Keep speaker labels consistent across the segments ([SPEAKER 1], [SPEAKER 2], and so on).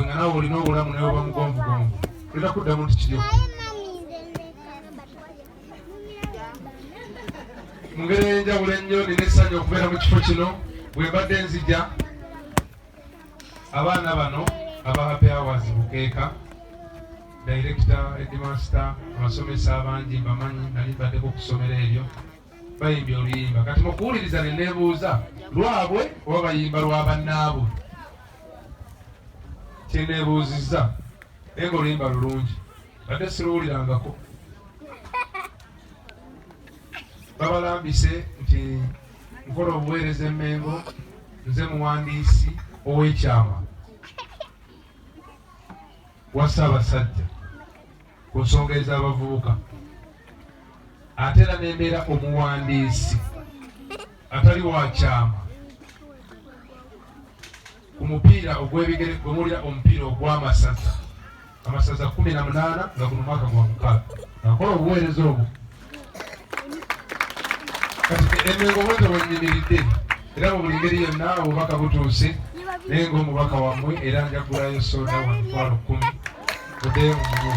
[SPEAKER 1] nga nawe olina obulamu naye oba mugonvugonvu olina kuddamu nti kiryo mu ngeri ey'enjawulo ennyo nina essanyu okubeera mu kifo kino bwe mbadde nzija abaana bano aba happy hours bukeeka dayirekita edimasita abasomesa abangi mbamanyi nali mbaddeko okusomera ebyo bayimbye oluyimba kati mukuwuliriza ne nebuuza lwabwe oba bayimba lwa bannaabwe kyenebuuzizza naye nga oluyimba lulungi badde siruwulirangako babalambise nti nkola obuweereza emmengo nze muwandiisi ow'ekyama wa ssaabasajja ku nsonga ez'abavubuka ate era nembeera omuwandiisi atali wakyama ku mupiira ogwebigere gwemuwulira omupiira ogw'amasaza amasaza kumi na munaana nga guno mwaka gwa mukaaga akola obuweereza obwo emengo bweza bwenyimiridde era mu buli ngeri yonna obubaka butuuse naye ngaomubaka wammwe era njagulayo soda wa mitwalo kumi mudeyo mumwe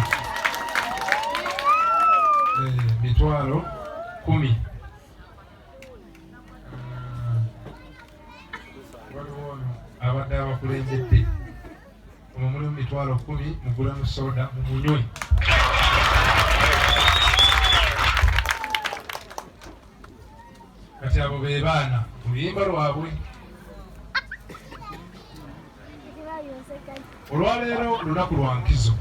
[SPEAKER 1] eh, mitwalo kumi abadde abakulembedde Muno mulimu mitwalo kkumi mugulemu soda mumunywe. Kati abo be baana oluyimba lwabwe. Olwaleero lunaku lwa nkizo,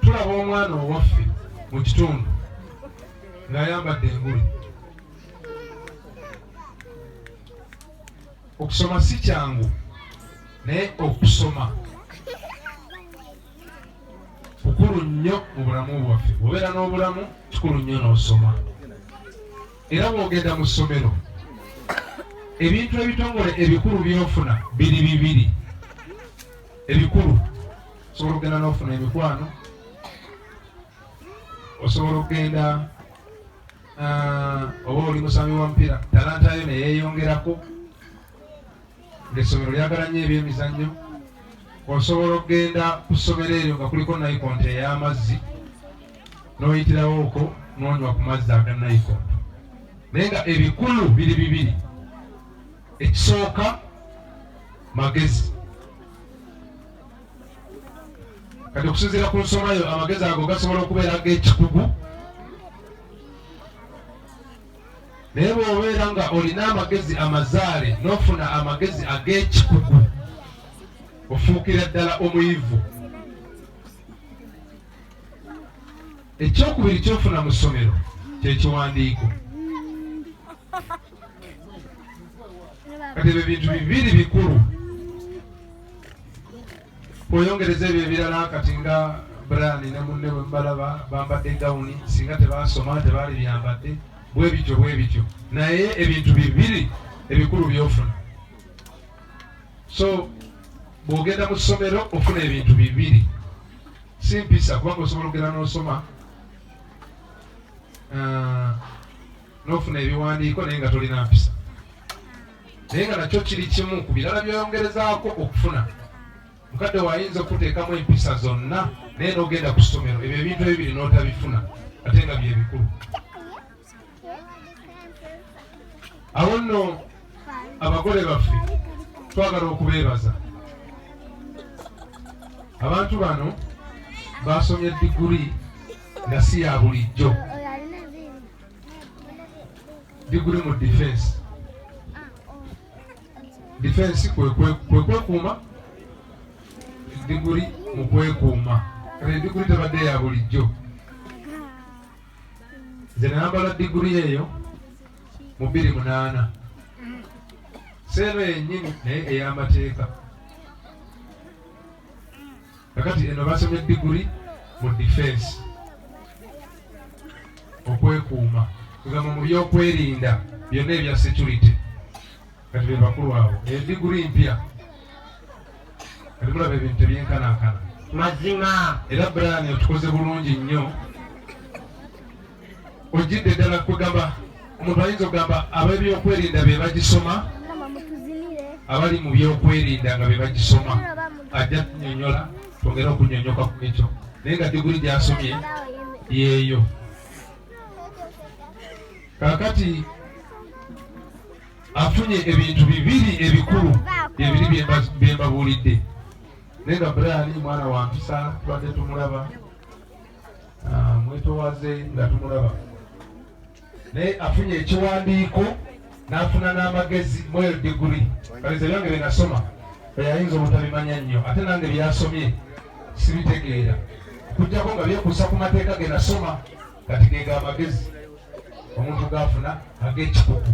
[SPEAKER 1] tulaba omwana owaffe mu kitundu ng'ayambadde engule. Okusoma si kyangu. naye okusoma kikulu nnyo mu bulamu bwaffe obeera n'obulamu kikulu nnyo n'osoma era bwogenda mu ssomero ebintu ebitongole ebikulu byofuna biri bibiri ebikulu osobola okugenda n'ofuna emikwano osobola okugenda ah, oba oli musambi wa mupiira talantayo neyeyongerako Ng'essomero lyagala nnyo ebyemizannyo, osobola okugenda ku ssomero eryo nga kuliko nayikonto ey'amazzi n'oyitirawo okwo n'onywa ku mazzi aga nayikonto naye nga ebikulu biri bibiri ekisooka magezi kati okusinziira ku nsoma yo amagezi ago gasobola okubeera g'ekikugu naye bw'obeera nga olina amagezi amazaale n'ofuna amagezi ag'ekikugu ofuukira ddala omuyivu ekyokubiri kyofuna mu ssomero kyekiwandiiko kati ebyo bintu bibiri bikulu Oyongereza ebyo ebirala kati nga Brian ne munne bwe mubalaba bambadde gawuni singa tebaasoma tebaali byambadde bwe bityo bwe bityo, naye ebintu bibiri ebikulu by'ofuna. So bw'ogenda mu ssomero ofuna ebintu bibiri, si mpisa kubanga osobola okugenda n'osoma uh, n'ofuna ebiwandiiko naye nga tolina mpisa. naye nga nakyo kiri kimu ku birala byoyongerezaako okufuna mukadde wayinza okuteekamu empisa zonna naye nogenda ku ssomero ebyo ebintu ebibiri notabifuna ate nga byebikulu awo nno abagole baffe twagala okubeebaza abantu bano basomye diguli nga si ya bulijjo diguli mu defense defense kwekwekuuma diguli mu kwekuuma kale diguli tebadde ya bulijjo nze nayambala diguli eyo mu biri munaana seeno yennyini naye ey'amateeka kakati eno basomye diguli mu defense okwekuuma kugamba mu byokwerinda byonna ebya security kati bebakulu abo eyo diguli mpya kati mulaba ebintu tebyenkanankana mazima era brani otukoze bulungi nnyo ojjidde ddala kugamba omuntu ayinza okugamba ab'ebyokwerinda be bagisoma abali mu byokwerinda nga be bagisoma ajja tunyonyola twongere okunyonyoka ku ekyo naye nga diguli gyasomye yeeyo kakati afunye ebintu bibiri ebikulu ebiri byembabuulidde naye nga brian mwana wampisa tubadde tumulaba Ah, mwetowaze nga tumulaba naye afunye ekiwandiiko n'afuna n'amagezi mweyo diguli kalize byange bye nasoma eyayinza obutabimanya nnyo ate nange byasomye sibitegeera kujjako nga byekuusa ku mateeka ge nasoma kati gega amagezi omuntu gafuna ag'ekikuku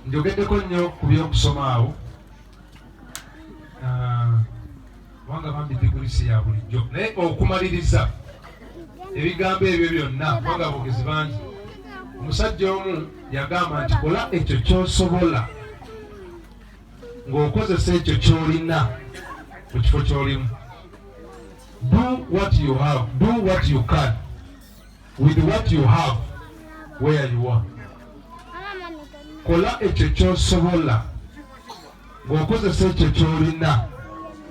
[SPEAKER 1] njogeddeko nnyo ku by'okusoma awo kubanga ah, bambi diguli si ya bulijjo naye okumaliriza ebigambo ebyo byonna kubanga abogezi bangi omusajja omu yagamba nti kola ekyo kyosobola ng'okozesa ekyo kyolina mu kifo kyolimu do what you have do what you can with what you have where you are kola ekyo kyosobola ng'okozesa ekyo ky'olina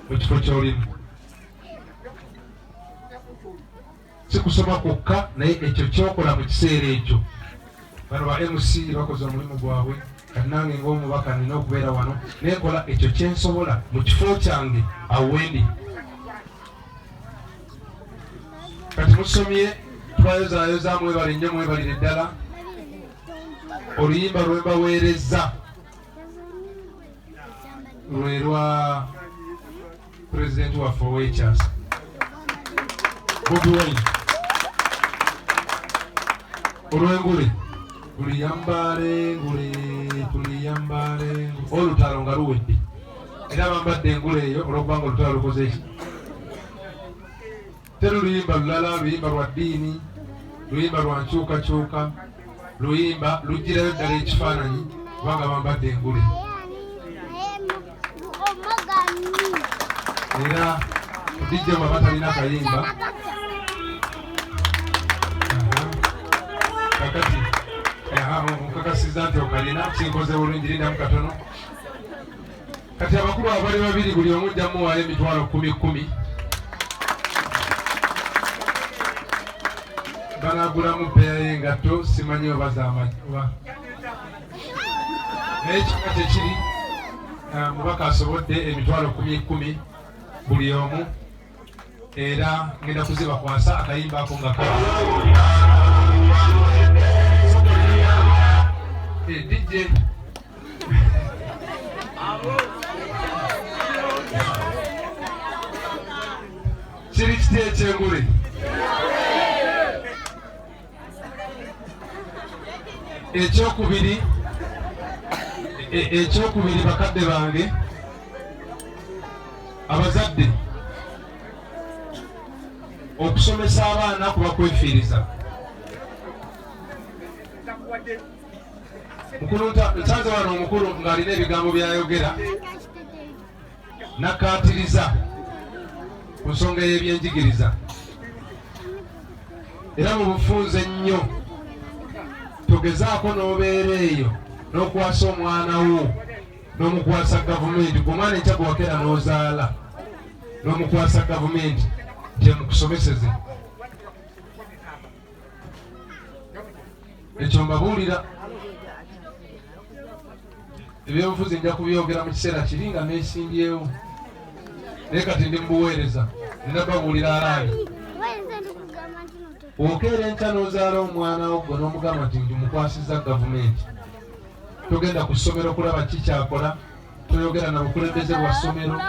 [SPEAKER 1] mu kifo ky'olimu si kusoma kwokka naye ekyo kyokola mu kiseera ekyo bano ba mc bakoze omulimu gwabwe kanange ngaomubaka nina okubeera wano nekola ekyo kyensobola mu kifo kyange awendi kati musomye twayozayoza mwebale nnyo mwebalire ddala oluyimba lwembaweerezza lwe lwa pulezidenti waffe ow'ekyasa bobi wine olwengule tuliyambale ngule tuliyambale olutalo nga luwedde era bambadde engule eyo olwokubanga olutalo lukoze eki Teruyimba lulala, luyimba lwa ddiini, luyimba lwa nkyukakyuka, luyimba lugirayo ddala ekifaananyi kubanga bambadde engule era dijja bwaba talina kayimba kakati nkakasiza nti okalina kinkoze bulungi lindamu katono Kati abakulu abali babiri buli omu ojja muwaayo emitwalo kkumi kkumi banagulamu bbeeya y'engatto simanyi oba zamaoba naye kika kyekiri ah, mubaka asobodde emitwalo kkumi kkumi buli omu era ngenda kuzibakwasa akayimba ako nga ka eh, DJ kiri kiti ekyengule ekyokubiri e, ekyokubiri bakadde bange abazadde okusomesa abaana kuba kwefiiriza mukulu nsanze wano omukulu ng'alina ebigambo byayogera nakkaatiriza ku nsonga y'ebyenjigiriza era mu bufunze ennyo togezaako n'obeera eyo n'okwasa omwana wo n'omukwasa gavumenti ku omwana enkya gwe wakera n'ozaala n'omukwasa gavumenti gye mukusomeseze ekyo mbabuulira ebyobufuzi nja kubyogera mu kiseera kiri nga nesimbyewo naye kati ndi mubuweereza nina babuulira alaali okeera enkya n'ozaala omwana wo gwe n'omugamba nti ndi mukwasiza gavumenti togenda ku ssomero kulaba kikyakola toyogera na bukulembeze bwa ssomero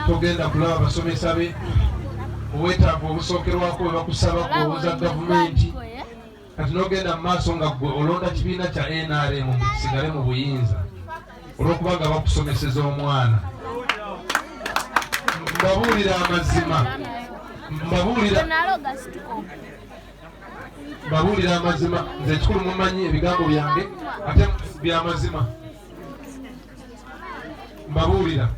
[SPEAKER 1] togenda kulaba basomesa be obwetaavu obusookerwako bwe bakusaba kuwoza gavumenti kati nogenda mu maaso nga gwe olonda kibiina kya nrm mukisigale mu buyinza olwokuba nga bakusomeseza omwana mbabuulira amazima mbabuulira mbabuulira amazima nze ekikulu mumanyi ebigambo byange ate byamazima mbabuulira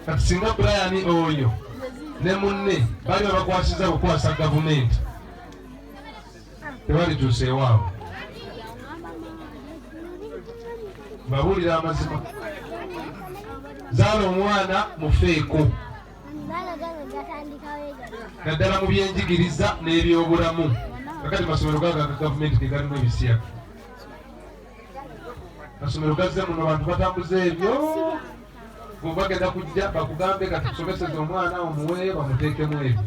[SPEAKER 1] kati singa brian oyo ne munne bali babakwasiza kukwasa gavumenti tebalituuseewaabo mbabuulira amazima zaala omwana mufeeko naddala mu byenjigiriza n'ebyobulamu kakati masomero gaga gavumenti gegalimu ebisiyaga masomero gazze muno bantu batambuza ebyo bagenda kujja bakugambe kati kusomeseza omwana omuwe bamuteekemu ebyo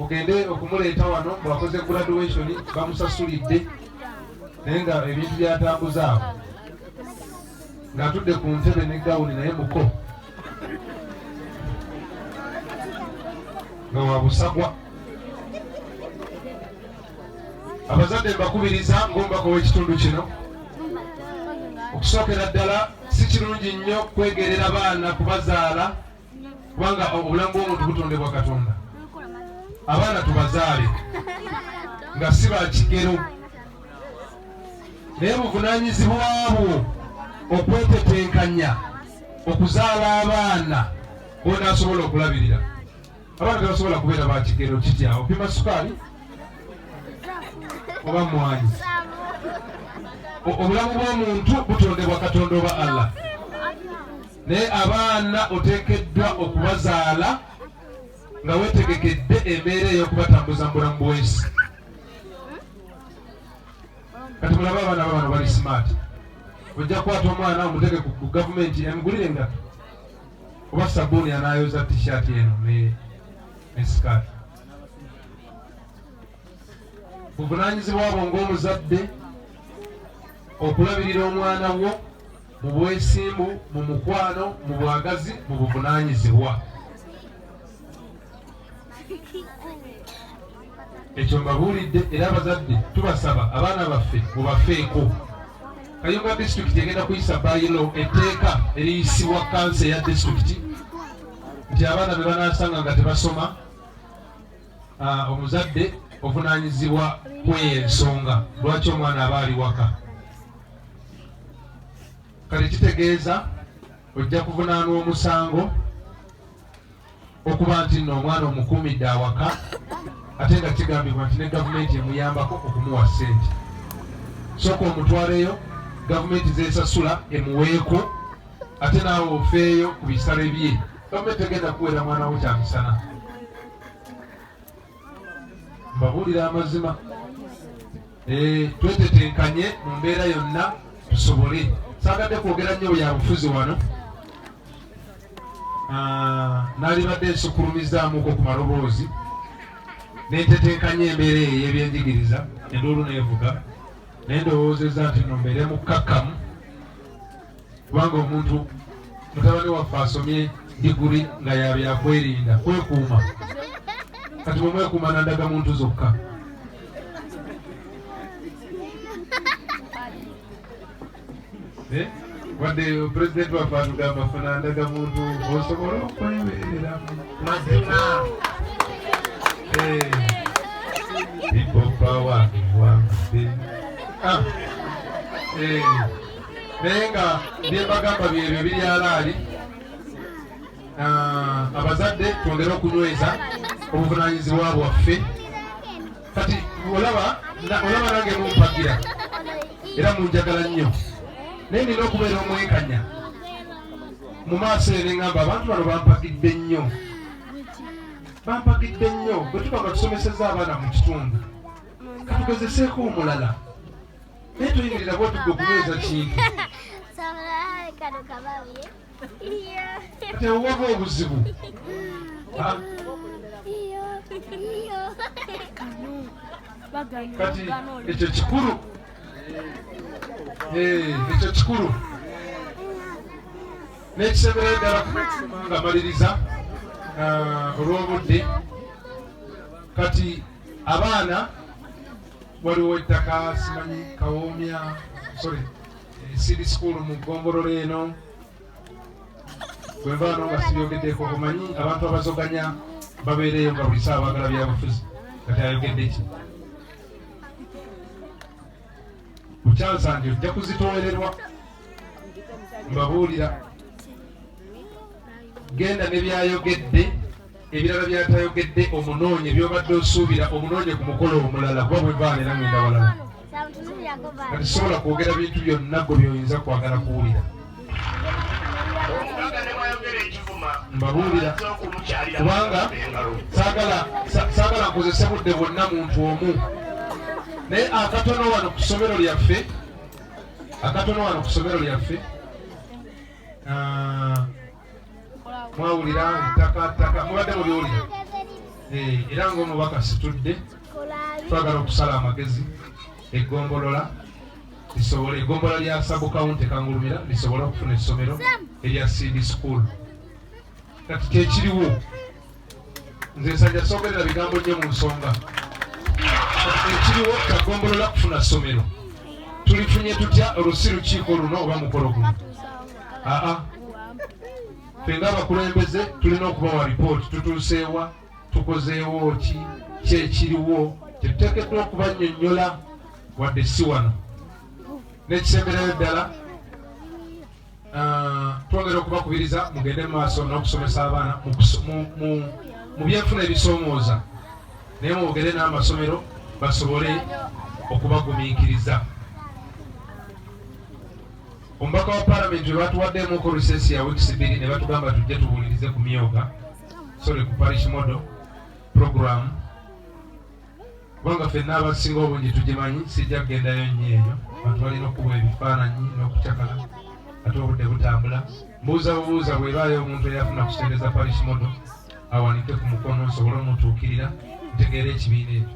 [SPEAKER 1] ogende okumuleeta wano bwakoze graduation bamusasulidde naye nga ebintu byatambuza awo ng'atudde ku ntebe ne gawuni naye muko nga wabusagwa abazadde mbakubiriza ng'omubaka ow'ekitundu kino okusookera ddala si kirungi nnyo kwegerera baana kubazaala kubanga obulamu bw'omuntu butondebwa katonda abaana tubazaale nga si ba kigero naye buvunanyizibwabwo okwetetenkanya okuzaala abaana bonasobola okulabirira abaana tebasobola kubeera bakigero kiti awo pima sukaali oba mwanyi obulamu bw'omuntu butondebwa katonda oba allah naye abaana oteekeddwa okubazaala nga wetegekedde embeera ey'okubatambuza mu bulamu bwensi kati mulaba abaana babano bali smart ojja kukwata omwana omuteke ku gavumenti emugulire engato kuba sabuni anayoza t-shirt eno ne ne sikaati buvunanyizibwa bwo ng'omuzadde okulabirira omwana wo mu bwesimbu mu mukwano mu bwagazi mu buvunanyizibwa ekyo mbabuulidde era abazadde tubasaba abaana baffe mubafeeko kayunga disitulikiti egenda kuyisa bayilo etteeka eriyisibwa kansa eya disitulikiti nti abaana be banasanga nga tebasoma ah, omuzadde ovunanyizibwa kweyo ensonga lwaki omwana aba ali waka kati kitegeeza ojja kuvunaanwa omusango okuba nti nno omwana omukuumidde awaka ate nga kigambibwa nti ne gavumenti emuyambako okumuwa ssente sooka omutwaleyo gavumenti zesasula emuweeko ate naawe ofeeyo ku bisale bye gavumenti egenda kuweera mwana wo kyamisana mbabuulira amazima eh, twetetenkanye mu mbeera yonna tusobole saagadde kwogera nnyo bya bufuzi wano ah, nalibadde nsukulumizaamuko ku maloboozi nentetenkanya embeera eyo eyebyenjigiriza enduulu neevuga naye ndowoozeza nti no mbeere mukkakkamu kubanga omuntu mutabani waffe asomye diguri nga yabyakwerinda kwekuuma kati bwemwekuuma nandaga muntu zokka eh? wadde pulezidenti waffe atugamba funandaga muntu osobola okweberera mazima eh. ipopawa ewange ah. eh. naye nga byembagamba byebyo biri alaali abazadde twongere okunyweza obuvunanyizibwa bwaffe kati olaba olaba nange mumpagira era munjagala nnyo naye nina okubeera omwekanya mu maaso ene ngamba abantu bano bampagidde nnyo bampagidde nnyo bwe tuba nga tusomeseza abaana mu kitundu katugezeseeko omulala naye tuyingirira bwati gwe okunyweza kintu kati ewova obuzibu kati ekyo kikulu eh, ekyo kikulu n'ekisembereyo ddala nga maliriza ah, olw'obudde kati abaana waliwo ettaka simanyi kawoomya sorry siri school mu ggombolola eno bwenvaano nga sibyogeddeko omanyi abantu abazoganya babeereyo nga buli saa baagala byabufuzi kati ayogedde ki bukyansa nti ojja kuzitoolerwa mbabuulira genda nebyayogedde ebirala byatayogedde omunoonye byobadde osuubira omunoonye ku mukolo omulala kuba bwevaala era ngenda walala kati sobola kwogera bintu byonna gwe byoyinza kwagala kuwulira mbabuulira kubanga saagala nkozese budde bwonna muntu omu naye akatono wano ku ssomero lyaffe akatono wano ku ssomero lyaffe ah, mwawulira ettaka ttaka mubadde muliwulira eh, era ngaomubaka situdde twagala okusala amagezi eggombolola lisobole eggombolola lya sabukawunti kangulumira lisobole okufuna essomero erya cd school kati kyekiriwo nze nsanja sogerera bigambo nnyo mu nsonga ekiriwo kagombolola kufuna ssomero tulifunye tutya olusi lukiiko luno oba mukolo guno aa fenga abakulembeze tulina okubawa lipooti tutuuseewa tukozeewo ki kyekiriwo kyetuteekeddwa okubanyonyola wadde si wano nekisemberayo ddala Ah, twongera okubakubiriza mugende maaso n'okusomesa abaana mu byenfuna ebisoomooza naye mwogere n'amasomero basobole okubagumiikiriza omubaka wa palamenti we batuwaddeemu ku risesi ya wiikisi bbiri ne batugamba tujje tubuulirize ku myooga sole ku parish model programu kubanga fenna abasinga obungi tugimanyi sijja kugendayo nnyo eyo bantu balina okukuba ebifaananyi n'okucakala ate obudde butambula mbuuza bubuuza bwebaayo omuntu eyafuna kuseereza parish modo awanike ku mukono nsobole omutuukirira ntegeera ekibiina ekyo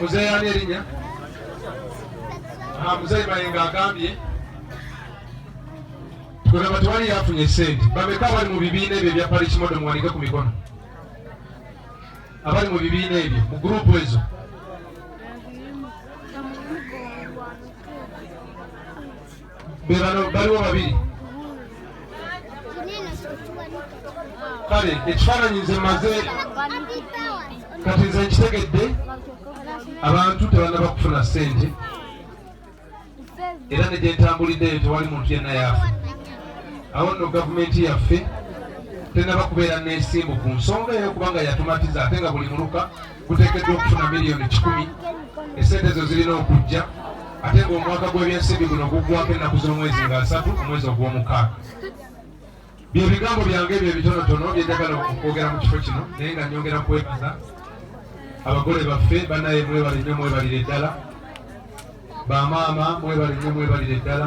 [SPEAKER 1] muzeeyi ani erinya ah, muzeeyi mayenga agambye tugamba tewali yafunye sente bameka abali mu bibiina ebyo ebya palikimodo muwanike ku mikono abali mu bibiina ebyo mu gurupu ezo bebano baliwo babiri kale ekifaananyi nze maze kati nze nkitegedde abantu tebanaba kufuna sente era negyentambuliddeyo tewali muntu yenna yaafa awo nno gavumenti yaffe tenaba kubeera nesimbu ku nsonga eyo kubanga yatumatiza ate nga buli muluka guteekeddwa okufuna miliyoni kikumi esente ezo zirina okujja ate ng'omwaka gw'ebyensimbi guno guggwako ennaku z'omwezi nga asatu omwezi ogw'omukaaga bye bigambo byange ebyo ebitonotono bye njagala okwogera mu kifo kino naye nga nyongera kwebaza abagole baffe banaye mwebale nnyo mwebalire ddala bamaama mwebale nnyo mwebalire ddala